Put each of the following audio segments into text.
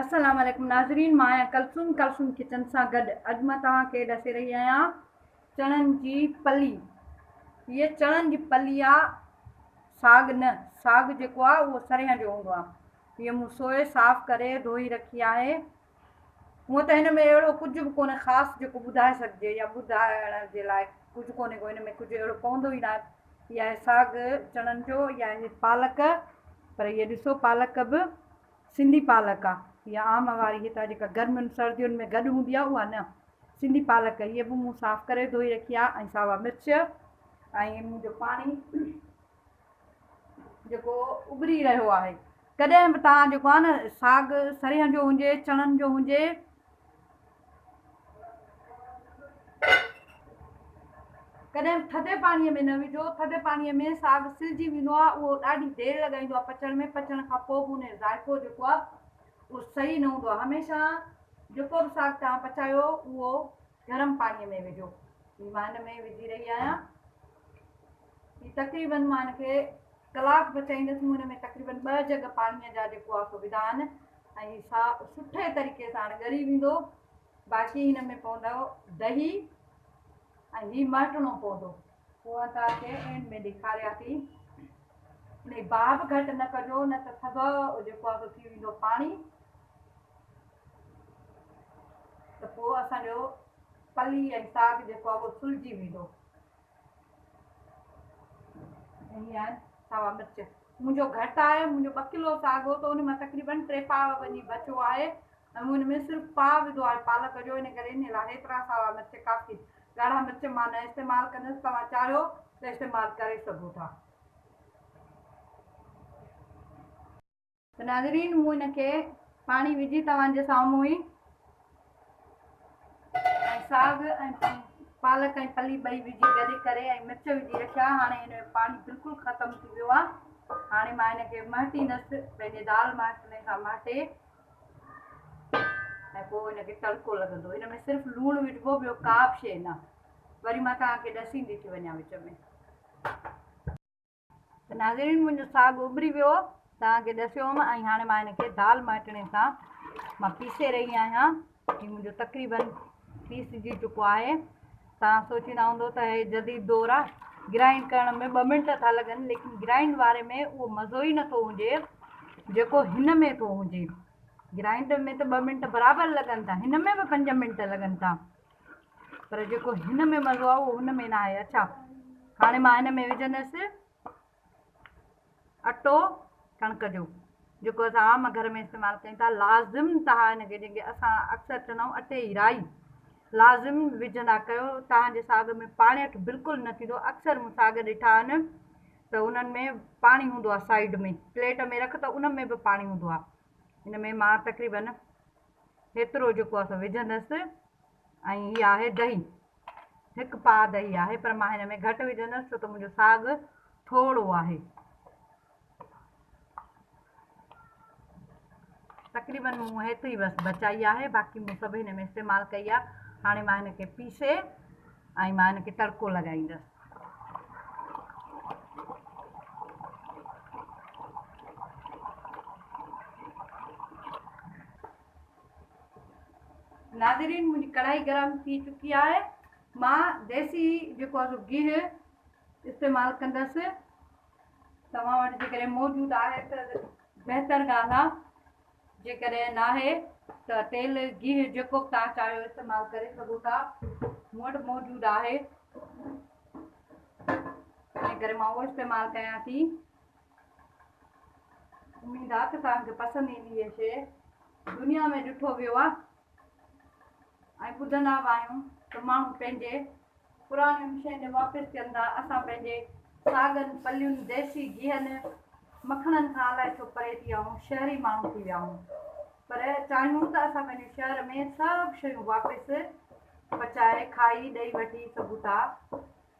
السلام عليڪم ناظرين مان آهيان ڪلثوم ڪلثوم ڪچن سان گڏ اڄ مان توهان کي ڏسي رهي آهيان چڻن جي پلي هيء چڻن جي پلي آ ساڳ نه ساڳ جيڪو آ اهو سرهين جو هوندو آ هيء مون سوئي صاف ڪري ڌوئي رکي آهي هونء ته هن ۾ اهڙو ڪجهه به ڪونهي خاص جيڪو ٻڌائي سگهجي يا ٻڌائڻ جي لاء ڪجهه ڪونهي ڪو هن ۾ ڪجهه اهڙو پوندو ئي ناهي يا هي ساڳ چڻن جو يا هي پالڪ پر هي ڏسو پالڪ به سنڌي پالڪ آ يا عام واري هتا جيڪا گرمين سردين ۾ گڏ هوندي آ اها نه سنڌي پالڪ هي به مون صاف ڪري ڌوئي رکي آ ۽ ساوا مرچ ۽ مون جو پاڻي جيڪو ابري رهيو آهي ڪڏهن به توهان جيڪو آ نه ساڳ سريهن جو هجي چڻن جو هجي ڪڏهن ٿڌي پاڻي ۾ نه وجهو، ٿڌي پاڻي ۾ ساڳ سلجي ويندو آهي اهو ڏاڍي دير لڳائيندو آهي پچڻ ۾ پچڻ کان پوء به ان جو ذائقو جيڪو آهي اهو صحيح نه هوندو آهي هميشه جيڪو به ساڳ توهان پچايو اهو گرم پاڻي ۾ وجهو هي مان هن ۾ وجهي رهي آهيان هي تقريبن مان هن کي ڪلاڪ پچائيندس مون هن ۾ تقريبن ٻه جڳ پاڻي جا جيڪو آهي سو وڌا آهن ۽ سا سٺي طريقي ساڻ ڳري ويندو باقي هن ۾ پوندو دهي ۽ هي مهٽڻو پوندو. هونء ته ڪي عين ۾ ڏيکاريا ٿي ان جي باب گهٽ نه ڪجو نه ته سڀ جيڪو آ سو ٿي ويندو پاڻي ته پو اسان جو پلي ۽ ساڳ جيڪو آ اهو سلجي ويندو. سوا مرچ منهنجو گهٽ آهي منهنجو ٻه ڪلو ساڳو ته ان مان تقريبن ٽي پاء وڃي بچو آهي ۽ مون ان ۾ صرف پاء وڌو آهي پالڪ جو ان ڪري ان لاء هيترا سوا مرچ ڪافي ڳاڙها مرچ مان نه استعمال ڪندس توهان چاهيو ته استعمال ڪري سگهو ٿا ته ناظرين مون ان کي پاڻي وجهي توهان جي سامهون ئي ۽ ساڳ ۽ پالڪ ۽ پلي ٻئي وجهي گڏي ڪري ۽ مرچ وجهي رکيا هاڻي هن جو پاڻي بلڪل ختم ٿي ويو آهي هاڻي مان هن کي مهٽيندس پنهنجي دال مهٽڻي سان مهٽي ۽ پوء هن کي تڙڪو لڳندو هن ۾ صرف لوڻ وجهبو ٻيو ڪا به شيء نه وري مان توهان کي ڏسيندي ٿي وڃان وچ ۾ ته ناظرين منهنجو ساڳ اڀري ويو توهان کي ڏسيو هوم ۽ هاڻي مان هن کي دال مهٽڻي سان مان پيسي رهي آهيان هي منهنجو تقريبن پيسجي چڪو آهي توهان سوچيندا هوندو ته هي جديد دور آ گرائنڊ ڪرڻ ۾ ٻه منٽ ٿا لڳن ليڪن گرائنڊ واري ۾ اهو مزو ئي نٿو هجي جيڪو هن ۾ ٿو هجي گرائنڊ ۾ ته ٻه منٽ برابر لڳن ٿا هن ۾ به پنج منٽ لڳن ٿا پر جيڪو هن ۾ مزو آهي اهو هن ۾ نه آهي اڇا هاڻي مان هن ۾ وجهندس اٽو ڪڻڪ جو جيڪو اسان عام گهر ۾ استعمال ڪيون ٿا لازم تها هن کي جيڪي اسان اڪثر چوندا آهيون اٽي جي رائي لازم وجهندا ڪيو تهان جي ساڳ ۾ پاڻي اٺ بلڪل نه ٿيندو اڪثر مون ساڳ ڏٺا آهن ته انهن ۾ پاڻي هوندو آهي سائيڊ ۾ پليٽ ۾ رک ته ان ۾ به پاڻي هوندو آهي ان ۾ مان تقريبن هيترو جيڪو اسان وجهندس ۽ هي آهي دهي هڪ پاء دهي آهي پر مان هن ۾ گهٽ وجهندس ڇو ته منهنجو ساڳ ٿورو آهي تقريبن مون هيتري بس بچائي آهي باقي مون سڀ هن ۾ استعمال ڪئي آهي هاڻي مان هن کي پيسي ۽ مان ان کي تڙڪو لڳائيندس. ناظرين منهنجي ڪڙهائي گرم ٿي چڪي آهي مان ديسي جيڪو آهي سو گيهه استعمال ڪندس توهان وٽ جيڪڏهن موجود آهي ته بهتر ڳالهه آهي جيڪڏهن ناهي ته تيل گيهه جيڪو به توهان چاهيو استعمال ڪري سگهو ٿا مون وٽ موجود آهي ان ڪري مان اهو استعمال ڪيان ٿي اميد آ ته توهان کي پسند ايندي هي شي دنيا ۾ ڏٺو ويو آ ۽ ٻڌندا به آهيون ته ماڻهو پنهنجي پراڻين شين ڏي واپس ٿين ٿا اسان پنهنجي ساڳن پلين ديسي گيهن مکڻن کان الائي ڇو پري ٿي ويا آهيون شهري ماڻهو ٿي ويا آهيون پر چاهيون ته اسان پنهنجي شهر ۾ سڀ شيون واپس پچائي کائي ڏئي وٺي سگهون ٿا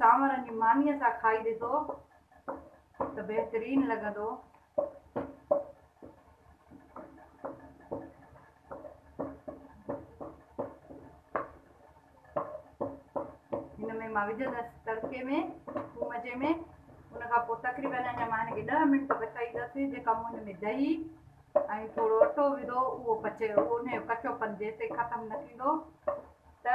چانورن جي مانيء سان کائي ڏسو ته بهترين لڳندو. هن ۾ مان وجهندس تڙڪي ۾ ٿوم جي ۾ ان کان پوء تقريبن اڃا مان هن کي ڏهه منٽ پچائيندس جيڪا مون هن ۾ دهي ۽ ٿورو اٽو وڌو اهو پچي اهو ان جو ڪچو پن جيستائين ختم نه ٿيندو ته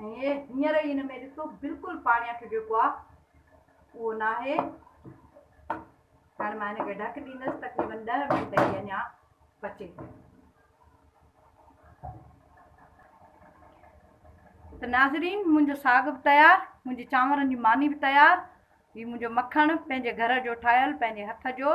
هينئر هي هن ۾ ڏسو بلڪل پاڻي اٺ جيڪو آ اهو ناهي هاڻي مان هن کي ڍڪ ڏيندس تقريبن ڏهه منٽ هي اڃا پچي ته ناظرين منهنجو ساڳ به تيار منهنجي چانورن جي ماني به تيار هي منهنجو مکڻ پنهنجي گهر جو ٺاهيل پنهنجي هٿ جو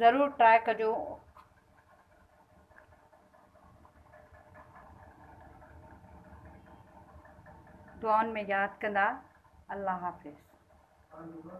ضرور ٽرائي ڪجو. دعائن ۾ ياد ڪندا الله حافظ.